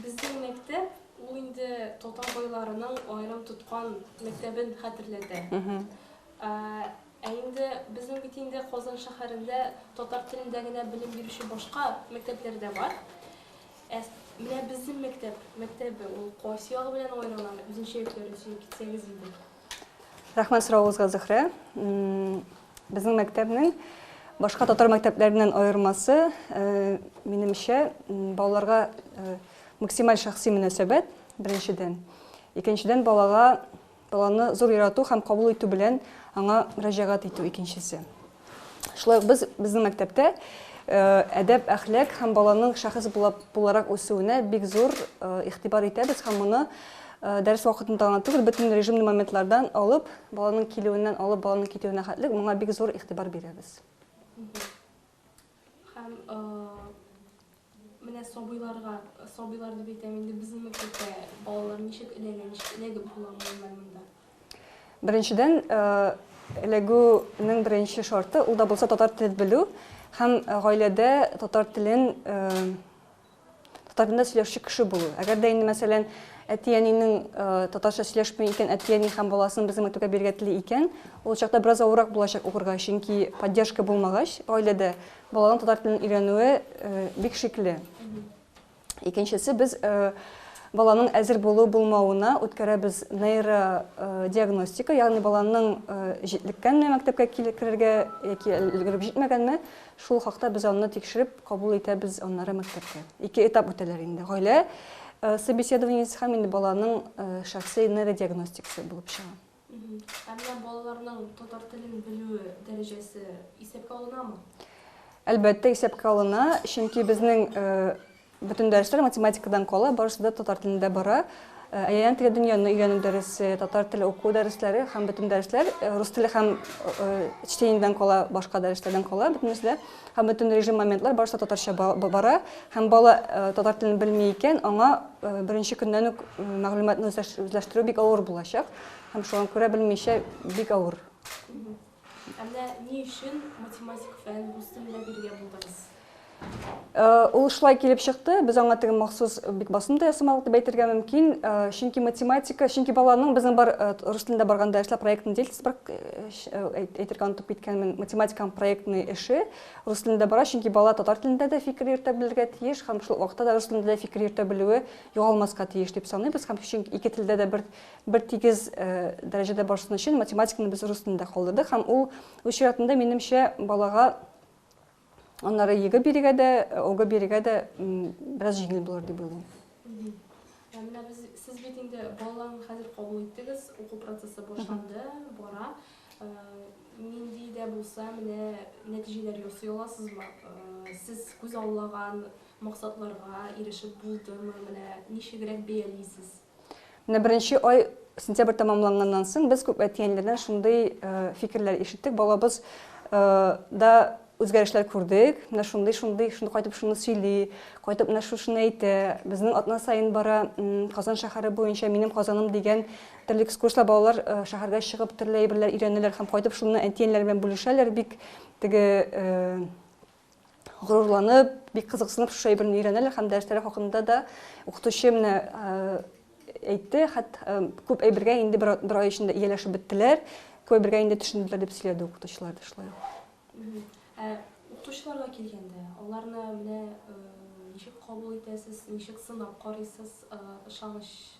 Безнең мәктәп ул инде татар байларының аерым тоткан мәктәбен хәтерләтә. Ә, ә инде безнең бит инде Казан шәһәрендә татар телендә генә белем бирүче башка мәктәпләр дә бар. Ә менә безнең мәктәп, мәктәбе ул кайсы ягы белән аерыла, үзенчәлекләре өчен китсәгез иде. Рәхмәт соравыгызга, Зөһрә. Безнең мәктәпнең башка татар мәктәпләреннән аермасы, минемчә, балаларга максималь шәхси мөнәсәбәт, беренчедән. Икенчедән, балага, баланы зур ярату һәм кабул итү белән аңа мөрәҗәгать итү, икенчесе. Шулай ук без безнең мәктәптә әдәп, әхлак һәм баланың шәхес буларак үсүенә бик зур игътибар итәбез һәм моны дәрес вакытында гына түгел, бөтен режимный моментлардан алып, баланың килүеннән алып, баланың китүенә хәтлек моңа бик зур игътибар бирәбез. Һәм менә сабыйларга, сабыйлар дип әйтәм инде, безнең балалар ничек эләгә, ничек эләгеп була монда? Беренчедән, эләгүнең беренче шарты, ул да булса татар телен белү һәм гаиләдә татар телен Татар телендә сөйләшүче кеше булу. Әгәр дә инде, мәсәлән, әти-әнинең татарча сөйләшми икән, әти-әни һәм баласын безнең мәктәпкә бирергә тели икән, ул чакта бераз авыррак булачак укырга, чөнки поддержка булмагач, гаиләдә баланың татар телен өйрәнүе бик шикле. Икенчесе без баланың әзер булу булмавына үткәрәбез нейродиагностика, ягъни баланың җитлеккәнме мәктәпкә килеп керергә яки өлгереп җитмәгәнме, Шул хакта без анны тикшереп кабул итәбез, аннары мәктәпкә. Ике этап үтәләр инде. Гаилә собеседованиесе һәм инде баланың шәхси нейродиагностикасы булып чыга. Әмма балаларның татар телен белүе дәрәҗәсе исәпкә алынамы? Әлбәттә, исәпкә алына, чөнки безнең Бөтен дәресләр математикадан кала, барысы да татар телендә бара. Э, Әйләнә тирә дөньяны өйрәнү дәресе, татар теле уку дәресләре һәм бөтен дәресләр э, рус теле һәм э, чтениедән кала, башка дәресләрдән кала бөтенесе дә һәм бөтен режим моментлар барысы татарча бара һәм бала татар телен белми икән, аңа беренче көннән үк мәгълүматны үзләштерү бик авыр булачак һәм шуңа күрә белмичә бик авыр. Ә менә ни өчен математик фән үстерергә биргә булдыгыз? Э, ул шулай килеп чыкты, без аңа теге махсус бик басым да ясамадык дип әйтергә мөмкин. Э, чөнки математика, чөнки баланың безнең бар э, рус телендә барганда эшләп проектный дельтис бар әйтергә онытып киткәнмен. Математиканың проектный эше рус телендә бара, чөнки бала татар телендә дә фикер йөртә белергә тиеш һәм шул вакытта да рус телендә дә фикер йөртә белүе югалмаска тиеш дип саныйбыз һәм чөнки ике телдә дә бер бертигез дәрәҗәдә барсын өчен математиканы без рус телендә калдырдык һәм ул үз чиратында минемчә балага аннары егэ бирергә дә ога бирергә дә бераз җиңел булыр дип уйлыйм менә без сез бит инде балаларны хәзер кабул иттегез уку процессы башланды бара нинди дә булса менә нәтиҗәләр ясый аласызмы сез күз аллаган максатларга ирешеп булдымы менә ничегрәк бәялисез Менә беренче ай сентябрь тәмамланганнан соң без күп әти-әниләрдән шундый фикерләр ишеттек, балабыз да үзгәрешләр күрдек, менә шундый, шундый, шундый кайтып шуны сөйли, кайтып менә шушыны әйтә, безнең атна саен бара Казан шәһәре буенча минем Казаным дигән төрле экскурсияләр балалар шәһәргә чыгып төрле әйберләр өйрәнәләр һәм кайтып шуны әти-әниләр белән бүлешәләр, бик теге горурланып, бик кызыксынып шушы әйберне өйрәнәләр һәм дәресләре хакында да укытучы менә әйтте, хәт күп әйбергә инде бер, бер ай эчендә ияләшеп беттеләр, күп әйбергә инде төшенделәр дип сөйләде укытучылар да шулай. Ә укытучыларга килгәндә, аларны менә ничек кабул итәсез, ничек сынап карыйсыз, ышаныч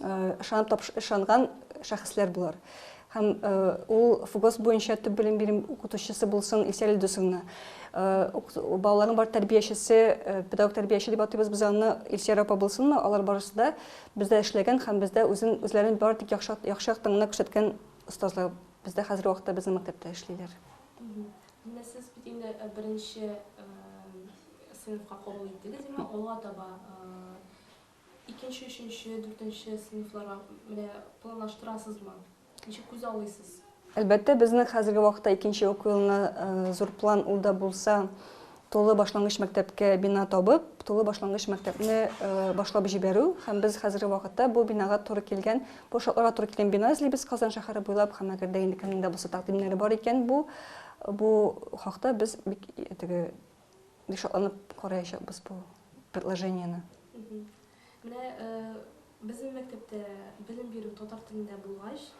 ышанып тапш ышанган шәхесләр булар һәм ул фугос буенча төп белем бирем укытучысы булсын Ильсәр Илдусовна. Балаларның бар тәрбиячесе, педагог тәрбияче дип атыйбыз без аны Ильсәр апа булсынмы, алар барысы да бездә эшләгән һәм бездә үзен үзләрен бары тик яхшы яхшы яктан гына күрсәткән остазлар бездә хәзерге вакытта безнең мәктәптә эшлиләр. Менә сез бит инде беренче сыйныфка кабул иттегез, димәк, алга таба Икенче, өченче, дүртенче сыйныфларга менә планлаштырасызмы? Ничек күзаллыйсыз? Әлбәттә, безнең хәзерге вакытта икенче уку елына зур план ул да булса, тулы башлангыч мәктәпкә бина табып, тулы башлангыч мәктәпне башлап җибәрү. Һәм без хәзерге вакытта бу бинага туры килгән, бу шартларга туры килгән бина эзлибез Казан шәһәре буйлап. Һәм әгәр дә инде кемнең дә булса тәкъдимнәре бар икән, бу бу хакта без бик теге Бик шатланып караячакбыз бу предложениене. Менә безнең мәктәптә белем бирү татар телендә булгач,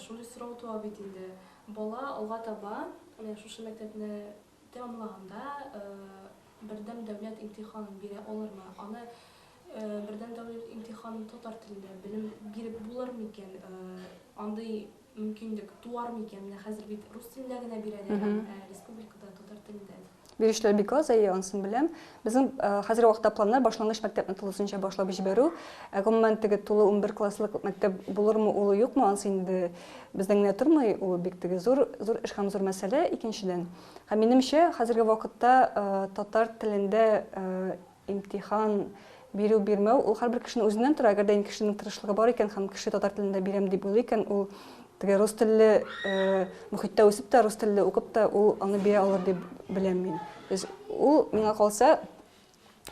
шундый сорау туа бит инде. Бала алга таба менә шушы мәктәпне тәмамлаганда бердәм дәүләт имтиханын бирә алырмы? Аны бердәм дәүләт имтиханын татар телендә белем биреп булырмы икән? Андый мөмкинлек туар микән? Менә хәзер бит рус телендә генә бирәләр, ә республикада татар телендә. Бирүчеләр бик аз, әйе, анысын беләм. Безнең хәзерге вакытта планнар башлангыч мәктәпне тулысынча башлап җибәрү. Ә гомумән теге тулы унбер класслык мәктәп булырмы ул, юкмы, анысы инде бездән генә тормый, ул бик теге зур, зур эш һәм зур мәсьәлә, икенчедән. Һәм минемчә, хәзерге вакытта татар телендә Имтихан бирү-бирмәү, ул һәрбер кешенең үзеннән тора. Әгәр дә инде кешенең тырышлыгы бар икән һәм кеше татар телендә бирәм дип уйлый икән, ул теге рус телле мөхиттә үсеп тә, рус телле укып та, ул аны бирә алыр дип беләм мин. То есть ул, миңа калса,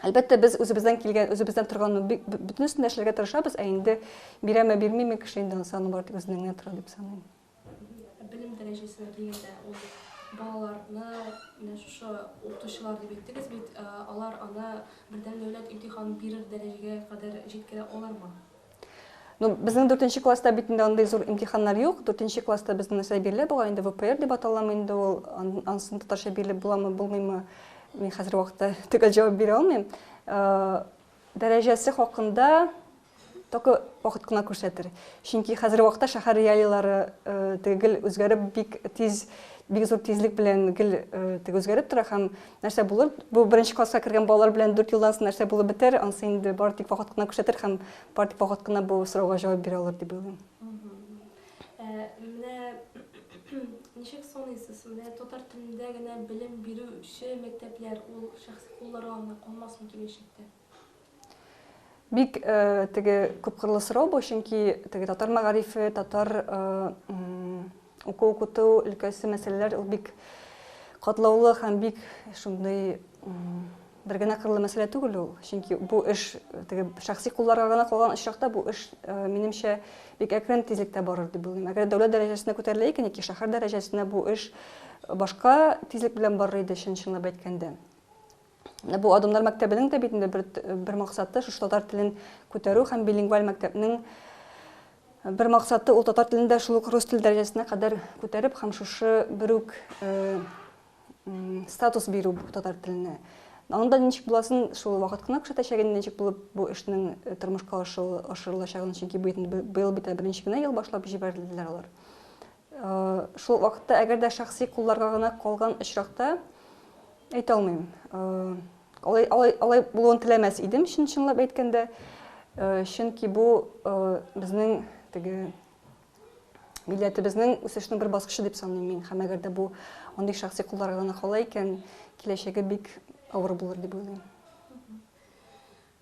Әлбәттә, без үзебездән килгән, үзебездән торганны бөтенесен дә эшләргә тырышабыз, ә инде бирәме, бирмиме кеше инде ансаны бар, тик үзеннән генә тора дип саныйм. Белем дәрәҗәсенә килгәндә, ул балаларны, менә шушы укытучылар дип әйттегез бит, алар аны бердәм дәүләт имтиханын бирер дәрәҗәгә кадәр җиткерә алырмы? Ну, безнең дүртенче класста бит инде андый зур имтиханнар юк. Дүртенче класста бездә нәрсә бирелә бугай инде ВПР дип аталамы инде ул, ансын татарча бирелеп буламы, булмыймы, мин хәзер вакытта төгәл җавап бирә алмыйм. Дәрәҗәсе хакында только вакыт кына күрсәтер. Чөнки хәзерге вакытта шәһәр реалияләре теге гел үзгәреп, бик тиз, бик зур тизлек белән гел теге үзгәреп тора һәм нәрсә булыр? Бу беренче класска кергән балалар белән 4 елдан соң нәрсә булып бетәр? Ансы инде бары тик вакыт кына күрсәтер һәм бары тик вакыт кына бу сорауга җавап бирә алыр дип уйлыйм. Ә менә ничек саныйсыз, менә татар телендә генә белем бирүче мәктәпләр ул шәхси кулларга гына калмасмы киләчәктә? Бик теге күпкырлы сорау бу, чөнки теге татар мәгарифе, татар уку-укыту өлкәсе мәсьәләләр ул бик катлаулы һәм бик шундый Бер генә кырлы мәсьәлә түгел ул, чөнки бу эш теге шәхси кулларга гына калган очракта бу эш, минемчә, бик әкрен тизлектә барыр дип уйлыйм. Әгәр дәүләт дәрәҗәсенә күтәрелә икән яки шәһәр дәрәҗәсенә, бу эш башка тизлек белән барыр иде, чын-чынлап әйткәндә. Менә бу Адымнар мәктәбенең дә бит инде бер, бер максаты шушы татар телен күтәрү һәм билингваль мәктәпнең бер максаты ул татар телен дә шул ук рус теле дәрәҗәсенә кадәр күтәреп һәм шушы бер үк статус бирү бу татар теленә. Анда ничек буласын шул вакыт кына күрсәтәчәк инде, ничек булып бу эшнең э, тормышка ашырылачагын, чөнки бу инде быел бит беренче генә ел башлап җибәрделәр алар. Э, шул вакытта әгәр дә шәхси кулларга гына калган очракта әйтә алмыйм. Э, алай алай алай булуын теләмәс идем, чын чынлап әйткәндә. Чөнки бу безнең теге Милләтебезнең үсешнең бер баскычы дип саныйм мин. Һәм әгәр дә бу андый шәхси кулларга гына кала икән, киләчәге бик авыр булыр дип уйлыйм.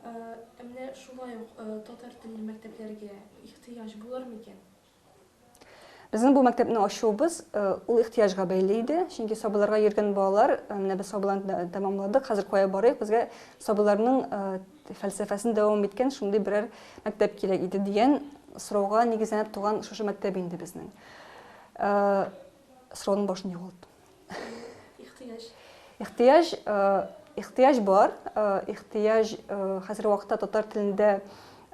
Ә менә шулай ук татар телле мәктәпләргә ихтыяҗ булыр микән? Безнең бу мәктәпне ачуыбыз ул ихтыяҗга бәйле иде, чөнки сабыйларга йөргән балалар, менә без сабыйларны тәмамладык, хәзер кая барыйк, безгә сабыйларның фәлсәфәсен дәвам иткән шундый берәр мәктәп кирәк иде дигән сорауга нигезләнеп туган шушы мәктәп инде безнең. Сорауның башын югалттым. Ихтыяҗ. Ихтыяҗ, ихтыяҗ бар. Ихтыяҗ хәзерге вакытта татар телендә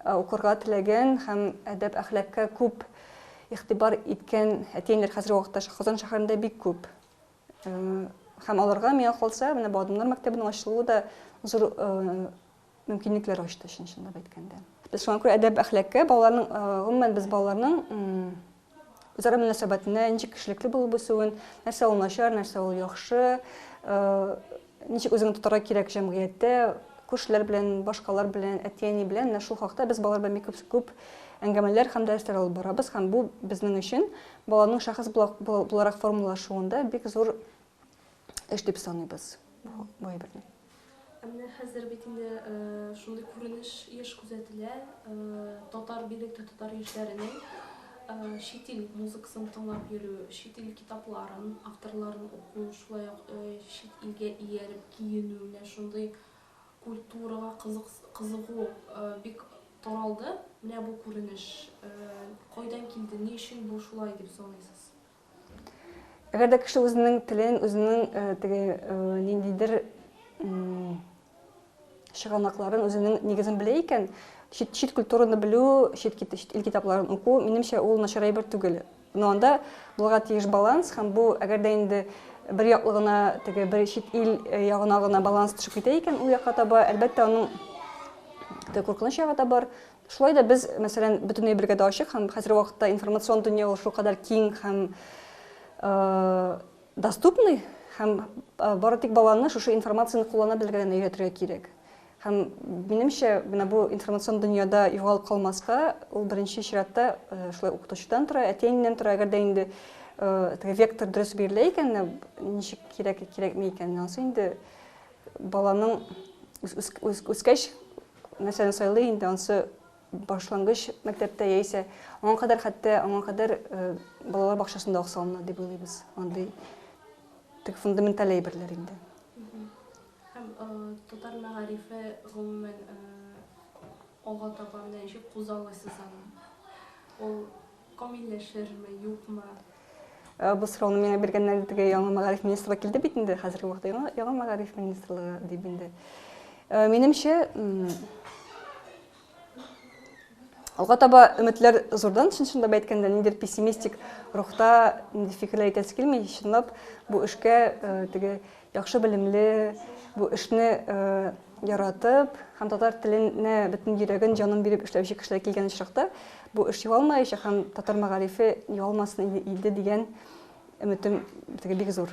укырга теләгән һәм әдәп-әхлакка күп игътибар иткән әти-әниләр хәзерге вакытта Казан шәһәрендә бик күп. Һәм аларга, миңа калса, менә бу Адымнар мәктәбенең ачылуы да зур мөмкинлекләр ачты, чын-чынлап әйткәндә. Без шуңа күрә әдәп-әхлакка, балаларның, гомумән, без балаларның үзара мөнәсәбәтенә, ничек кешелекле булып үсүен, нәрсә ул начар, нәрсә ул яхшы, Ничек үзеңне тотарга кирәк җәмгыятьтә, күршеләр белән, башкалар белән, әти-әни белән, менә шул хакта без балалар белән бик күп әңгәмәләр һәм дәресләр алып барабыз, һәм бу безнең өчен баланың шәхес буларак формалашуында бик зур эш дип саныйбыз бу әйберне. Ә менә хәзер бит инде шундый күренеш еш күзәтелә, татар, бигрәк тә татар яшьләренең Чит ил музыкасын тыңлап йөрү, чит ил китапларын, авторларын уку, шулай ук чит илгә ияреп киенү, менә шундый культурага кызыгу бик таралды. Менә бу күренеш кайдан килде, ни өчен бу шулай дип саныйсыз? Әгәр дә кеше үзенең телен, үзенең теге ниндидер чыганакларын, үзенең нигезен белә икән, чит, чит культураны белү, чит, чит ил китапларын уку, минемчә, ул начар әйбер түгел. Но анда булырга тиеш баланс, һәм бу, әгәр дә инде бер яклы гына теге бер чит ил э, ягына гына баланс төшеп китә икән ул якка таба, әлбәттә, аның теге куркыныч ягы да бар, Шулай да без, мәсәлән, бөтенләй бергә дә ачык һәм хәзерге вакытта информацион дөнья ул шулкадәр киң һәм доступный, һәм бары тик баланы шушы информацияне куллана белергә генә өйрәтергә кирәк. Һәм минемчә, менә бу информацион дөньяда югалып калмаска, ул беренче чиратта шулай укытучыдан тора, әти-әнинән тора, әгәр дә инде теге вектор дөрес бирелә икән, ничек кирәк, кирәкми икән, анысы инде Баланың үскәч нәрсәне сайлый инде, ансы башлангыч мәктәптә яисә аңа кадәр хәтта аңа кадәр балалар бакчасында ук салына дип уйлыйбыз. Андый тек фундаменталь әйберләр инде. Һәм татар мәгарифе гомумән алга таба менә ничек кузгалыйсыз аны? Ул Камилләшерме, юкмы? Бу сорауны миңа биргәннәр инде теге яңа мәгариф министрлыгы килде бит инде хәзерге вакытта яңа, яңа мәгариф министрлыгы дип инде. Э, минемчә, алга таба өметләр зурдан, чын чынлап әйткәндә, ниндидер пессимистик рухта нинди фикерләр әйтәсе килми, чынлап бу эшкә э, теге Яхшы белемле, бу эшне яратып һәм татар теленә бөтен йөрәген, җанын биреп эшләүче кешеләр килгән очракта, бу эш югалмаячак һәм татар мәгарифе югалмасын иде дигән өметем теге бик зур.